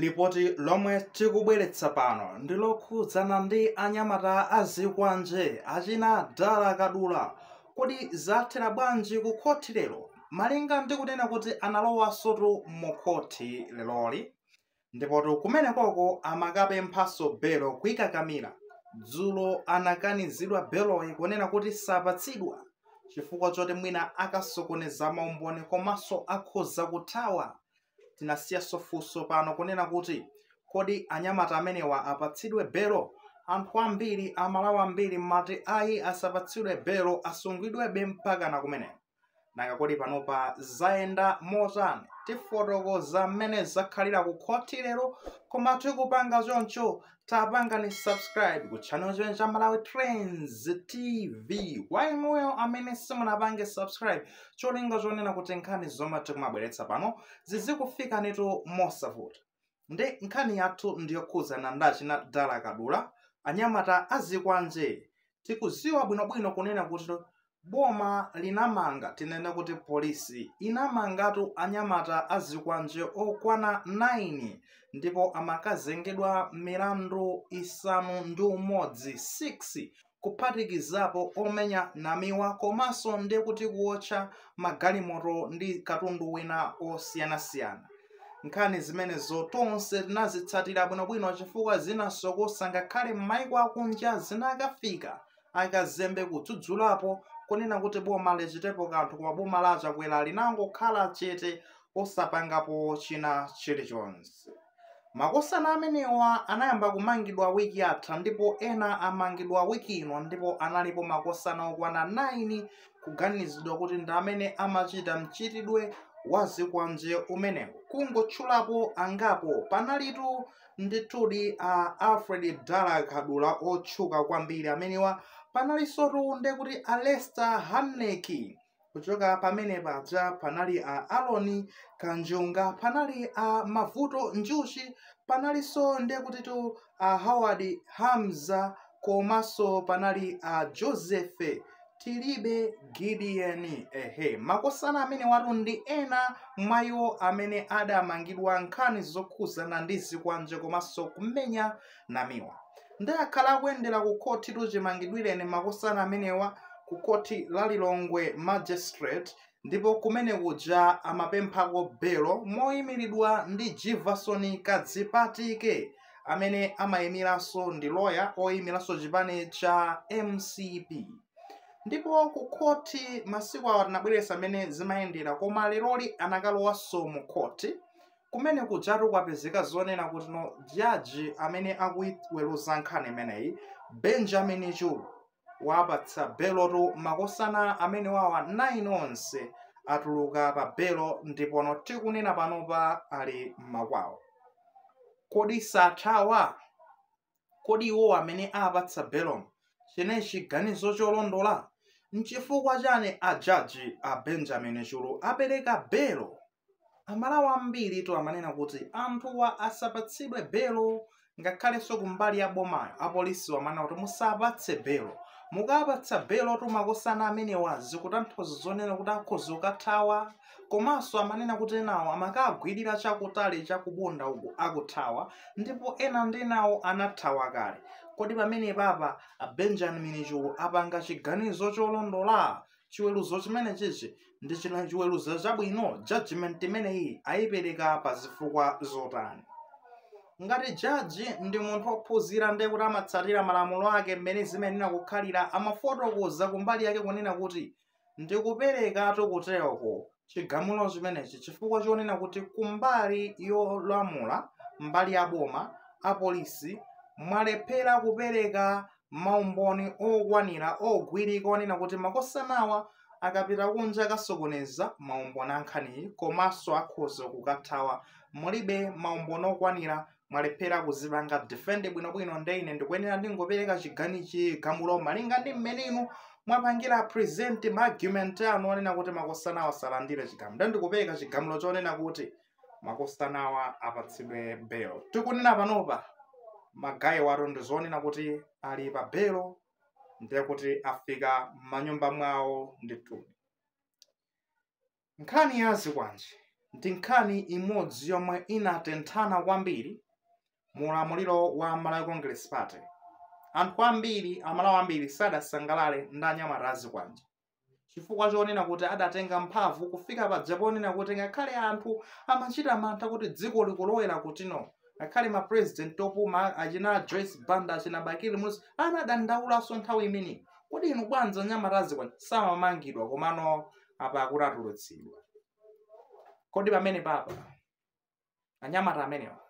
Lipoti lomwe tikubweretsa pano ndi lokhudzana ndi anyamata a zikwanje achina Dala Kadula. Kodi zathera bwanji ku khothi lero? Malinga ndi kunena kuti analowasotu mu khothi leroli ndipotu kumenekoko amakapemphanso belo kuikakamira. Dzulo anakanizidwa beloyi kunena kuti sapatsidwa chifukwa choti mwina akasokoneza maumboni komanso akhoza kuthawa. tinasiyanso funso pano kunena kuti kodi anyamata amenewa apatsidwe belo anthu ambiri Amalawi ambiri mumati ayi asapatsidwe belo asungidwebe mpakana kumeneko nanga kodi panopa zayenda motani tifotokoza mmene zakhalira ku khoti lero koma tikupanga choncho tapangani subscribe ku channel chimenechi cha malawi trends tv kwa inuyo amene simunapange subscribe cholinga chonena kuti nkhani zomwe tikumabweretsa pano zizikufikanitu mosavuta nde nkhani yathu ndiyokhudzana ndi achina dala kadula anyamata azikwanje tikuziwa bwinobwino kunena kuti boma linamanga tinene kuti polisi inamangatu anyamata azikwanje okwana 9 ndipo amakazengedwa milandu isanu ndi umodzi 6 kuphatikizapo omenya namiwa komanso ndi kuti kuotcha magalimoto ndi katundu wina osiyanasiyana nkhani zimenezo tonse tinazitsatira bwinobwino chifukwa zinasokosa ngakhale m'maiko akunja zinakafika akazembe kudzudzulapo kunena kuti boma lichitepo kanthu koma boma la a Chakwera linangokhala chete osapangapo china chilichonse makosana amenewa anayamba kumangidwa wiki yatha ndipo ena amangidwa wiki ino ndipo analipo makosana okwana 9 kuganizidwa kuti ndi amene amachita mchitidwe wa zikwanje umenewu kungotchulapo angapo panalitu Ndithudi a Alfred Dala Kadula otchuka kwambiri amenewa panalinsotu nde kuti a Lester Hanneke kuchoka pamene paja panali a Aroni Kanjunga panali a Mavuto Njuchi panalinso nde kutitu a Howard Hamza komanso panali a joseph tilibe gideon ehe makosana amenewatu ndi ena mwa iwo amene adamangidwa nkhani zokhuzana ndi zikwanje komanso kumenya namiwa nde akhala akuyendera ku khotitu chimangidwireni makosana amenewa ku khoti la lilongwe magistrate ndipo kumene kuja amapemphako belo moyimiridwa ndi jivason kadzipatike amene amayimiranso ndi loya oyimiranso chipani cha mcp ndipo ku khoti masiku awa tinabweretsa mmene zimayendera koma leroli anakalowanso mu khoti kumene kujatu kwapezeka zonena kuti no jaji amene akuiweruza nkhani imeneyi benjamin chulu wapatsa belotu makosana amene wawa 9 onse atuluka pa belo ndipono tikunena panopa ali m'makwawo kodi sathawa kodi iwo amene apatsa belo chimene chiganizo cholondola nchifukwa chani ajaji a benjamin chulu apereka belo amalawi ambiri tu amanena kuti anthuwa asapatsidwe belo ngakhalenso kumbali ya bomayo apolisi amanena kuti musapatse belo mukapatsa belo tumakosana amenewa zikutanthauza zonena kuti akhoza kukathawa komanso amanena kuti enawo amakagwirira chakutali chakubunda uku akuthawa ndipo ena ndi enawo anathawa kale kodi pamene papa a benjamin chulu apanga chiganizo cholondola chiweruzo chimene chichi ndi china chiweruzo chabwino judgment imeneyi ayipereka pa zifukwa zotani ngati jaji ndi munthu ophunzira ndiye kuti amatsatira malamulo ake mmene zimayenera kukhalira amafotokoza kumbali yake kunena kuti ndikuperekatu kutereku chigamulo chimenechi chifukwa chonena kuti kumbali yolamula mbali ya boma apolisi mwalephera kupereka maumboni okwanira ogwirika onena kuti makosanawa akapita kunja akasokoneza maumboni a nkhaniyi komanso akhoza kukathawa mulibe maumboni okwanira mwalephera kuzipanga defend bwinobwino nde ine ndikuyenera ndingopereka chigani chigamulo malinga ndi mmene inu mwapangira present ma argument anu onena kuti makosanawa asalandire chigamulo nde ndikupereka chigamulo chonena kuti makosanawa apatsidwe belo tikunena panopa magayi watu ndi zonena kuti ali pa belo ndiye kuti afika m'manyumba mwawo ndithu Nkhani ya zikwanje ndi nkhani imodzi yomwe inatenthana kwambiri mu ulamuliro wa Malawi Congress Party. Anthu ambiri, Amalawi ambiri sadasangalale ndi anyamata a zikwanje chifukwa chonena kuti adatenga mphamvu kufika paja poonena kuti ngakhale anthu amachita mantha kuti dziko likulowera kutino ngakhale ma president opuma achina Joyce Banda achina Bakili Muluzi anadandaulaso nthawi imeneyi kodi inu bwanji anyamata a zikwanje samamangidwa komano apa akuti atulutsidwa kodi pamenepapa anyamata amenewa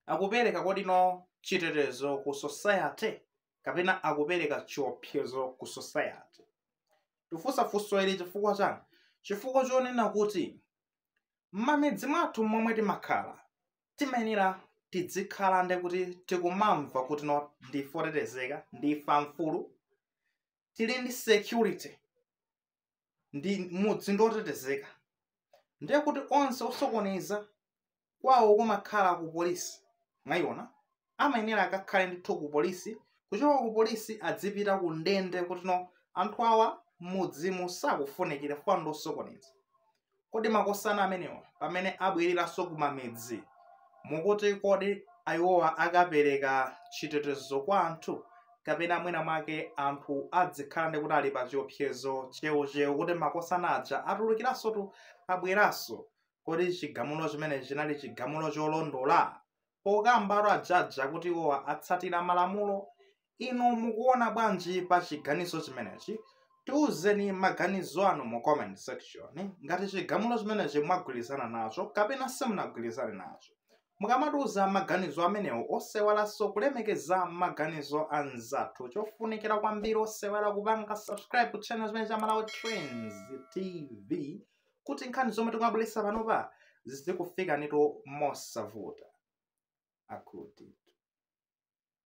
akupereka kodi no chitetezo ku society kapena akupereka chiopsezo ku society tifunsa funso ili chifukwa chani chifukwa chonena kuti m'mamidzi mwathu momwe timakhala timayenera tidzikhala ndi kuti tikumamva kuti no ndife otetezeka ndife amfulu tili ndi security ndi mudzi ndi wotetezeka ndiye kuti onse osokoneza kwawo kumakhala ku polisi mwayiona amayenera akakhale ndithu ku polisi kuchoka ku polisi adzipita ku ndende kuti no anthu awa m'mudzimu sakufunikira fwa ndi osokoneza kodi makosana amenewa pamene abwereranso kumamidzi mukuti kodi iwowa akapereka chitetezo kwa anthu kapena mwina mwake anthu adzikhala ndi kuti ali pa chiopsezo cheucheu kuti makosana aja atulukiranso tu abweranso kodi chigamulo chimenechi chinali chigamulo cholondola pokambapo a jaji akuti iwowa atsatira malamulo inu mukuona bwanji pa chiganizo chimenechi tiuzeni maganizo anu mu comment section ngati chigamulo chimenechi mwagwirizana nacho kapena simunagwirizane nacho mukamatiuza maganizo amenewo osaiwalanso kulemekeza maganizo a mzathu chofunikira kwambiri osaiwala kupanga subscribe ku channel chimenechi cha malawi trends tv kuti nkhani zomwe tikumabweretsa panopa zizikufikani inu mosavuta akuti